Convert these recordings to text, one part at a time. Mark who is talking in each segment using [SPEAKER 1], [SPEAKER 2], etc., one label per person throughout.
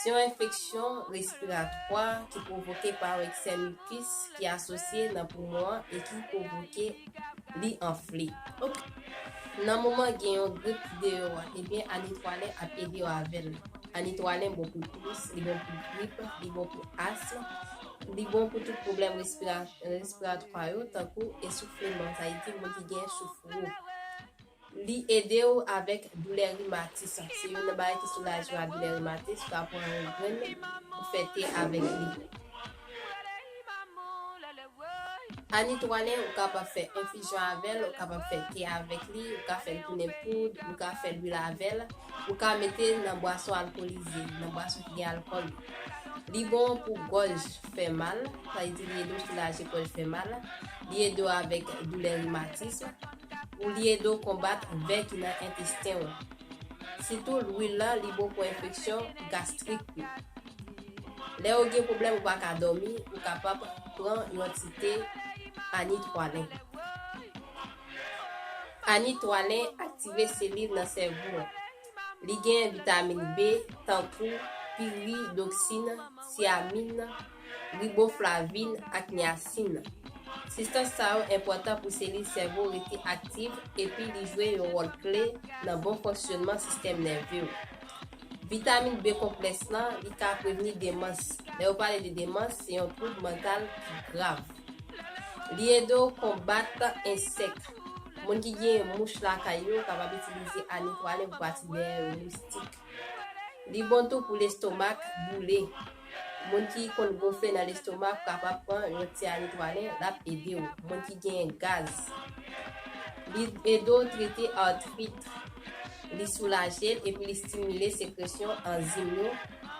[SPEAKER 1] Se yon enfeksyon respiratwa ki pwovoke pa yon eksè mikis ki asosye nan poumon an e ki pwovoke li anfle. Nan moman gen yon grip deyò a, ebyen anitwalen ap ede w avè l. Anitwalen bon pou tous, li bon pou grip, li bon pou asm, li bon pou tout pwoblèm respiratwa yo tankou esoufleman, sa vle di moun ki gen souf wo. Li ede w avèk doulè rimatis. Se youn nan bagay ki soulaje w a doulè rimatis. Ou ka pran yon grenn ou fè te avèk li. Anitwale ou kapab fè enfizyon avè l, ou kapab fè te avèk li, ou ka fè l tounen poud, ou ka fè lwil avè l, ou ka mete l nan bwason alkolize, nan bwason ki gen alkòl yo. Li bon pou gòj fè mal, sa vle di li ede w soulaje gòj fè mal, li ede w avèk doulè rimatis. Ou li ede w konbat vè ki nan entesten w. Sitou lwil lan li bon pou enfeksyon gastrik tou. Lè ou gen pwoblèm ou pa ka dòmi ou kapab pran yon ti te Ani 3 len. Ani 3 len aktive selil nan sèvo an. Li gen vitamin B tankou piridoksin, tiamin. riboflavin ak niyasin nan. Sibstans sa yo enpòtan pou selil sèvo rete aktiv epi li jwe yon wòl kle nan bon fonksyonman sistèm nève ou. Vitamin B konplèks lan, li ka prevni demans. Lè yo pale de demans, se yon twoub mantal ki grav. Li ede w konbat ensèk. Moun ki genyen mouch lakay yo kapab itilize anitwalin pou pati dèyè yo, moustik. Li bon tou pou lestomak boule. Moun ki konn gonfle nan lestomak kapab pran yon ti amitwalin lap edew. Moun ki genyen gaz. Li ede w trete artrit. Li soulaje l epi li stimile sekresyon anzim yo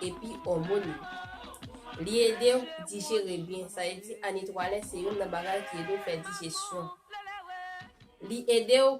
[SPEAKER 1] epi òmon yo. Li ede w dijere byen. Sa vle di anitwalin se youn nan bagay ki ede w fè dijesyon. Li ede w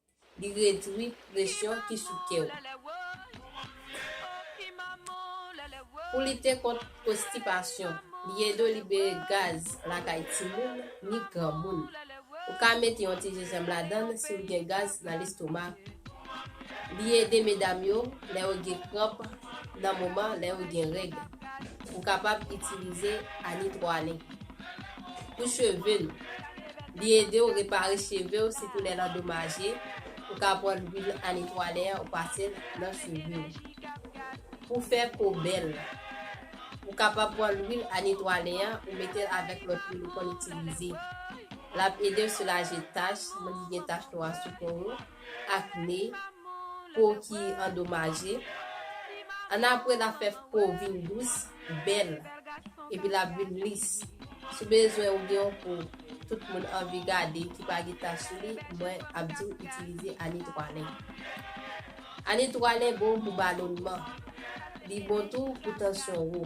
[SPEAKER 1] Li redri presyon ki sou kè w. Pou lite kont konstipasyon, li ede w libere gaz lakay timoun ni granmoun. Ou ka mete yon ti jenjanm ladan l si w gen gaz nan lestomak. Li ede medam yo lè yo gen kranp nan moman lè yo gen règ. Ou kapab itilize anitwale. pou cheve nou. Li ede w repare cheve w sitou lè l andomaje, ou ka pran lwil anetwale an ou pase l nan cheve w. Pou fè po bèl, ou kapab pran lwil anetwale an ou mete l avèk lòt lwil ou konn itilize. L ap ede w soulaje tach, moun ki gen tach nwa sou po ou, akne, po ki andomaje. Annapre, l ap fè po w vin dous, bèl, epi l ap vin lis. Si w bezwen ou gen yon po tout moun anvi gade ki pa gen tach sou li, mwen ap di w itilize Anitwalen. Anitwalen bon pou balonman. Li bon tou pou tansyon wo.